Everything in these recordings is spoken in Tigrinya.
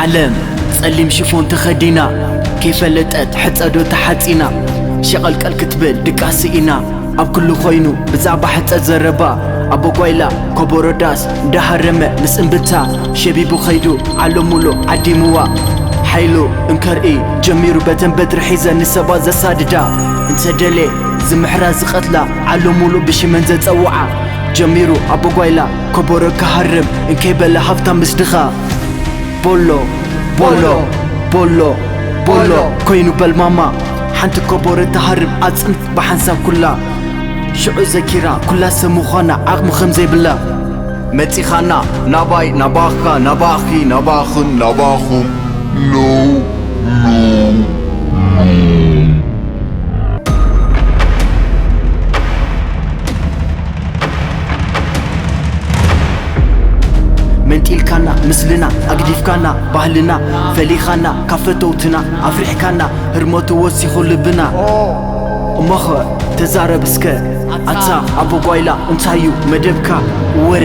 ዓለም ጸሊም ሽፎን ተኸዲና ከይፈለጠት ሕጸዶ ተሓጺና ሸቐልቀል ክትብል ድቃስ ስኢና ኣብ ኩሉ ኮይኑ ብዛዕባ ሕጸ ዘረባ ኣቦ ጓይላ ኮቦሮ ዳስ እንዳሃረመ ምስ እምብታ ሸቢቡ ከይዱ ዓለሙሉ ዓዲሙዋ ሓይሉ እንከርኢ ጀሚሩ በተን በትሪ ሒዘን ንሰባት ዘሳድዳ እንተ ደልየ ዝምሕራ ዝቐትላ ዓለሙሉ ብሽመን ዘጸውዓ ጀሚሩ ኣቦ ጓይላ ኮቦሮ ክሃርም እንከይ በለ ሃብታም ምስ ድኻ ቦሎ ቦሎ ቦሎ ቦሎ ኮይኑ በል ማማ ሓንቲ ኮቦሮ ትሃርም ኣጽም ብሓንሳብ ኩላ ሽዑ ዘኪራ ኩላሰብ ምዃና ዓቕሚ ከምዘይብላ መጺኻና ናባይ ናባኻ ናባኺ ናባኽን ናባኹም ኖው መንጢልካና ምስልና ኣግዲፍካና ባህልና ፈሊኻና ካብ ፈተውትና ኣፍሪሕካና ህርመቱ ወሲኹ ልብና እሞኸ ተዛረብ እስከ ኣታ ኣቦ ጓይላ እንታዩ መደብካ ወረ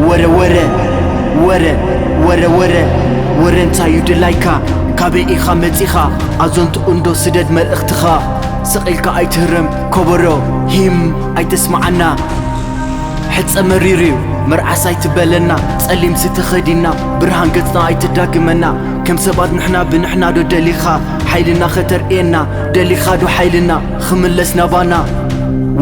ወረ ወረ ወረ ወረ ወረ ወረ እንታዩ ድላይካ ካበይ ኢኻ መጺኻ ኣዞንቱ እንዶ ስደድ መልእኽትኻ ስቕ ኢልካ ኣይትህረም ኮቦሮ ሂም ኣይተስምዓና ሕጸ መሪርዩ መርዓስ ኣይትበለና ጸሊምሲ ተኸዲና ብርሃን ገጽና ኣይተዳግመና ከም ሰባት ንሕና ብንሕና ዶ ደሊኻ ሓይልና ከተርእየና ደሊኻ ዶ ሓይልና ኽምለስ ናባና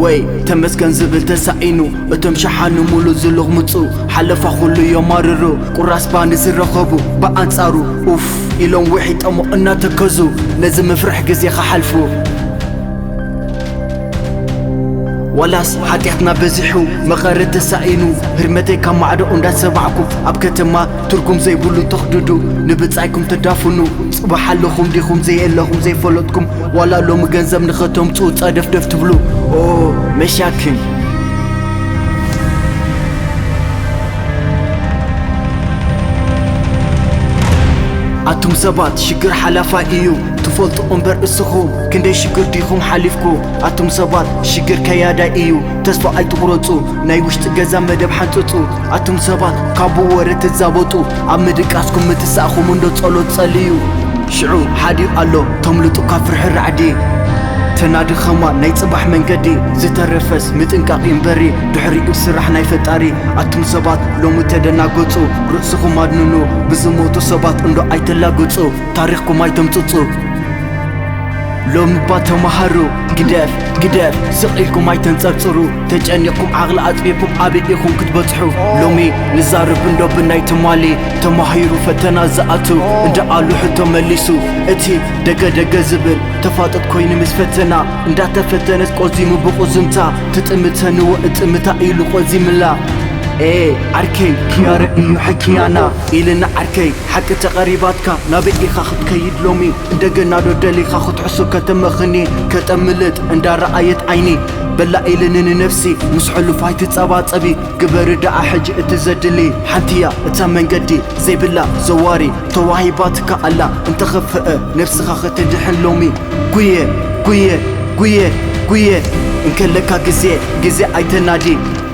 ወይ ተመስገን ዝብል ተሳኢኑ እቶም ሸሓኑ ሙሉእ ዝልቕምጹ ሓለፋ ኹሉ የማርሩ ቁራስ ባኒ ዝረኸቡ ብኣንጻሩ ኡፍ ኢሎም ውሒጦሞ እናተከዙ ነዚ መፍርሒ ግዜ ኽሓልፉ ዋላስ ሓጢኣትና በዚሑ መቐረት ተሳኢኑ ህርመተይ ካብ ማዕዶ እንዳሰባዕኩ ኣብ ከተማ ትርጉም ዘይብሉ ተኽድዱ ንብጻይኩም ተዳፍኑ ጽባሕ ኣለኹም ዲኹም ዘየለኹም ዘይፈለጥኩም ዋላ ሎሚ ገንዘብ ንኸተምጽኡ ጸደፍደፍ ትብሉ ኦ መሻክን ኣቱም ሰባት ሽግር ሓላፋይ እዩ ትፈልጡ እምበር እስኹም ክንደይ ሽግር ዲኹም ሓሊፍኩ ኣቱም ሰባት ሽግር ከያዳይ እዩ ተስፋ ኣይትቑረጹ ናይ ውሽጢ ገዛ መደብ ሓንጽጹ ኣቱም ሰባት ካቡ ወረ ትዛበጡ ኣብ ምድቃስኩም ምትሳእኹም እንዶ ጸሎት ጸልዩ ሽዑ ሓዲኡ ኣሎ ተምልጡ ካብ ፍርሒ ራዕዲ ተናድኸማ ናይ ጽባሕ መንገዲ ዝተረፈስ ምጥንቃቕ ይንበሪ ድሕሪኡ ስራሕ ናይ ፈጣሪ ኣቱም ሰባት ሎሚ ተደናገጹ ርእስኹም ኣድንኑ ብዝሞቱ ሰባት እንዶ ኣይተላግጹ ታሪኽኩም ኣይተምጽጹ ሎሚ እባ ተማሃሩ ግደፍ ግደፍ ስቕ ኢልኩም ኣይተንጸርጽሩ ተጨኒቕኩም ዓቕሊ ኣጥፊእኩም ኣበይ ኢኹም ክትበጽሑ ሎሚ ንዛርብ እንዶ ብናይ ትማሊ ተማሂሩ ፈተና ዝኣቱ እንዳኣሉ ሕቶ መሊሱ እቲ ደገ ደገ ዝብል ተፋጥጥ ኮይኑ ምስ ፈተና እንዳተፈተነት ቆዚሙ ብቑዝምታ ትጥምተንዎ እጥምታ ኢሉ ቆዚምላ ኤ ዓርከይ ክያረ እዩ ሕክያና ኢልና ዓርከይ ሓቂ ተቐሪባትካ ናበይ ኢኻ ክትከይድ ሎሚ እንደገናዶ ደሊኻ ክትሕሱ ከተመኽኒ ከተምልጥ እንዳረኣየት ዓይኒ በላ ኢሊ ንንነፍሲ ምስ ሕሉፍ ኣይትጸባጸቢ ግበሪ ደኣ ሕጂ እቲ ዘድሊ ሓንቲ'ያ እታ መንገዲ ዘይብላ ዘዋሪ ተዋሂባትካ ኣላ እንተኽፍእ ነብስኻ ከተድሕን ሎሚ ጉየ ጉየ ጉየ ጉየ እንከለካ ግዜ ግዜ ኣይተናዲ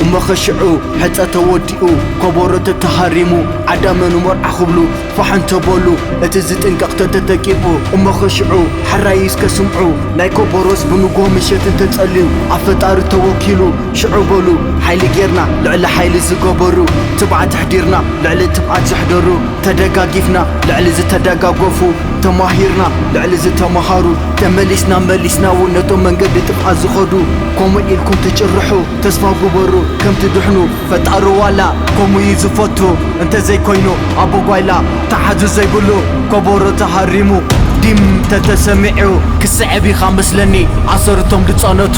እሞ'ኸ ሽዑ ሕጸ ተወዲኡ ኮቦሮ ተተሃሪሙ ዓዳመ ንመርዓ ክብሉ ፋሕ እንተ በሉ እቲ ዝጥንቀቕ ተተተቂፉ እሞኸ ሽዑ ሓራይ እስከ ስምዑ ናይ ኮቦሮስ ብንጉሆ ምሸት እንተ ጸልዩ ኣብ ፈጣሪ ተወኪሉ ሽዑ በሉ ሓይሊ ጌርና ልዕሊ ሓይሊ ዝገበሩ ትብዓት ኣሕዲርና ልዕሊ ትብዓት ዘሕደሩ ተደጋጊፍና ልዕሊ ዝተደጋገፉ ተማሂርና ልዕሊ ዝተመሃሩ ተመሊስና መሊስናውን ነቶም መንገዲ ጥብዓት ዝኸዱ ከምኡ ኢልኩም ትጭርሑ ተስፋ ግበሩ ከም ትድሕኑ ፈጣሩ ዋላ ከምኡ እዩ ዝፈቱ እንተዘይኮይኑ ኣቦ ጓይላ ተሓዙ ዘይብሉ ኮቦሮ ተሃሪሙ ዲም ተተሰሚዑ ክስዕብ ኢኻ መስለኒ ኣሰር እቶም ድጸነቱ።